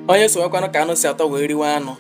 onye sowekwanụ ka anụ si atọ wee riwe anụ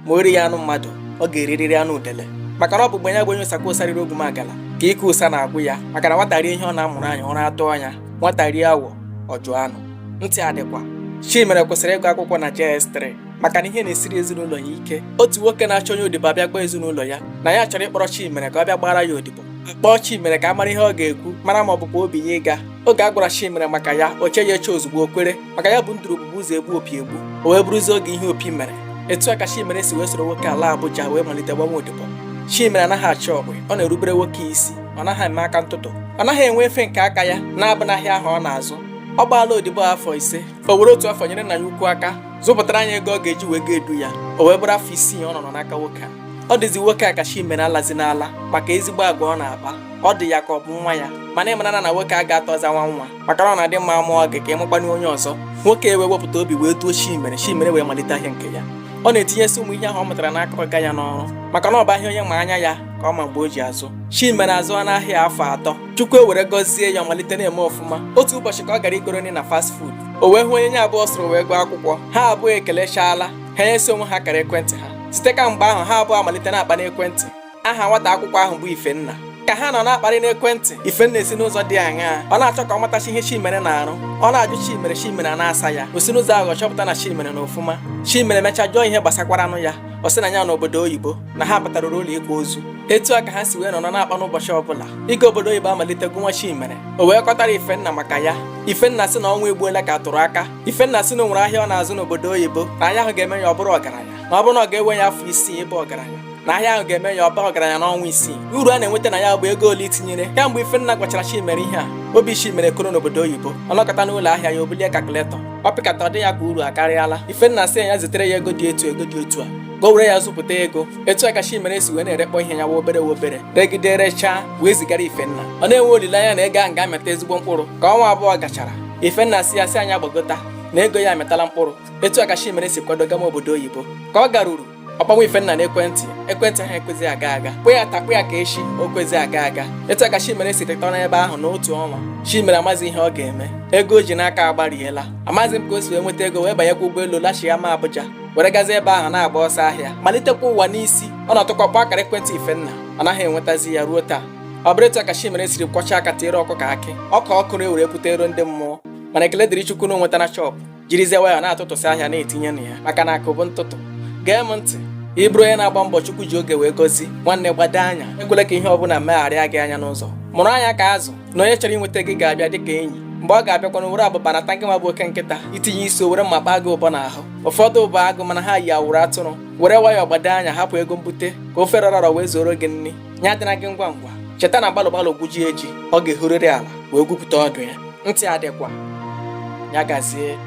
ma o righị anụ mmadụ ọ ga-erirịrị anụ udele maka na ọ bụ mgbe ya bụ onye ụsakwa ụsa riri ogwumagala ka ike ụsa na-agwụ ya maka na nwata rie ihe ọ na-amụrụ anya ụra atụọ ya nwata rie awọ ọ jụọ anụ ntị adịkwa Chimere kwesịrị ịgụ akwụkwọ na JS3 maka na ihe na-esiri ezinụlọ ya ike otu nwoke na-achọ onye odibo abịa gwa ezinụlọ ya na ya chọrọ ịkpọrọ Chimere ka ọ bịa gbaara ya odibo kpọọ Chimere ka a mara ihe ọ ga-ekwu mara ma ọ bụkwa obi ya ịga oge a gwara Chimere maka ya o cheghị eche ozugbo o kwere maka ya bụ nduru ogbugbu ụzọ egbu opi egbu o wee bụrụzie oge ihe opi mere etu a ka Chimere si wee soro nwoke a laa Abuja wee malite gbanwa odibo Chimere anaghị achọ okwu ọ na-erubere nwoke isi ọ naghị eme aka ntụtụ ọ naghị enwe efe nke aka ya na-abụ n'ahịa ahụ ọ na-azụ ọ gbaala odibo afọ ise o were otu afọ nyere nna ya ukwu aka zụpụtara ya ego ọ ga-eji wee ga edu ya o wee bụrụ afọ isii ọ nọ n'aka nwoke a ọ dịzi nwoke a ka Chimere alazina ala maka ezigbo agwa ọ na-akpa ọ dị ya ka ọ bụ nwa ya mana ị mara na nwoke a ga-atọza nwa nwa maka na ọ na-adị mma a mụọ gị ka ị mụkwanụ onye ọzọ nwoke ewee wepụta obi wee duo chimere chimere wee malite ahịa nke ya ọ na-etinyesi ụmụ ihe ahụ ọ mụtara n'aka ọga ya n'ọrụ maka na ọ bụ ahịa onye ma anya ya ka ọ ma mgbe o ji azụ chimere azụọ n'ahịa afọ atọ chukwu ewere gọzie ya ọ malite na-eme ọfụma otu ụbọchị ka ọ gara igoro nri na fast food o wee hụ onye na ya abụọ soro wee gụọ akwụkwọ ha abụọ ekelechaala ha nyesi onwe ha akara ekwentị ha site kamgbe ahụ ha abụọ amalite na-akpa n'ekwentị aha nwata akwụkwọ ahụ bụ Ifenna ka ha nọ na-akparị n'ekwentị Ifenna esi n'ụzọ dị aṅaa ọ na-achọ ka ọ matachaa ihe Chimere na-arụ ọ na-ajụ Chimere Chimere ana-asa ya o si n'ụzọ ahụ chọpụta na Chimere nọ ọfụma Chimere mechaa jụọ ihe gbasakwaranụ ya ọ sị na ya nọ obodo oyibo na ha batarụrụ ụlọ ịkwa ozu etu a ka ha si wee nọ na-akpa n'ụbọchị ọbụla ịga obodo oyibo amalite gụnwa Chimere o wee kọtara Ifenna maka ya Ifenna sị na ọnwa egbuola ka a tụrụ aka Ifenna sị na o nwere ahịa ọ na-azụ n'obodo oyibo na ahịa ahụ ga-eme ya ọ bụrụ ọgaranya na ọ bụrụ na ọ ga-ewe ya afọ isii ịbụ ọgaranya na ahịa ahụ ga-eme ya ọ baa ọgaranya n'ọnwa isii uru a na-enweta na ya bụ ego ole i tinyere kamgbe Ifenna gwachara Chimere ihe a obi Chimere koro n'obodo oyibo ọ nọkọta n'ụlọ ahịa ya o bulie kalkuletọ ọ pịkata ọ dị ya ka uru akarịala Ifenna sị ya zitere ya ego dị etu ego dị etu a ka o were ya zụpụta ego etu a ka Chimere si wee na-erekpọ ihe ya nwa obere nwa obere regide rechaa wee zigara Ifenna ọ na-enwe olileanya na ego ahụ ga-amịta ezigbo mkpụrụ ka ọnwa abụọ gachara Ifenna sị ya sị ya gbagota na ego ya amịtala mkpụrụ etu a ka Chimere si kwado gama obodo oyibo ka ọ garuru ọ kpọnwa ifenna n'ekwentị ekwentị ahụ ekwezi aga aga kpọọ ya taa kpọọ ya ka echi o kwezi aga aga etu a ka chimere siri tọ n'ebe ahụ n'otu ọnwa chimere amazi ihe ọ ga-eme ego o ji n'aka agbariela amazi m ka o si wee nweta ego wee banyekwa ụgbọelu lachighama abuja were gazie ebe ahụ na-agba ọsọ ahịa malitekwa ụwa n'isi ọ nọtụkwa kpọọ akara ekwentị ifenna ọ naghị enwetazi ya ruo taa ọ bụrụ etu a ka chimere siri kwọchaa aka tiere ọkụkọ akị ọka ọ kụrụ ewere pụta ero ndị mmụọ mana ekele dịrị chukwu na o nweta na chọpụ jirizie wayọ na-atụtụsị ahịa na-etinye na ya maka na akụ bụ ntụtụ gee m ntị ị bụrụ onye na-agba mbọ chukwu ji oge wee gozi nwanne gbado anya ekwela ka ihe ọbụla megharịa gị anya n'ụzọ mụrụ anya ka azụ na onye chọrọ inweta gị ga-abịa dịka enyi mgbe ọ ga-abịakwanụ were abụba rata ngị nwa bụ oke nkịta i tinye isi o were mma kpaa gị ụbọ n'ahụ ụfọdụ bụ agụ mana ha yi awụrụ atụrụ were wayọ gbado anya hapụ ego mbute ka ofe rọrọ arọ wee zuoro gị nri ya adịna gị ngwa ngwa cheta na gbalụ gbalụ gwujie ji ọ ga-ehurịrị ala wee gwupụta ọdụ ya ntị adịkwa ya gazie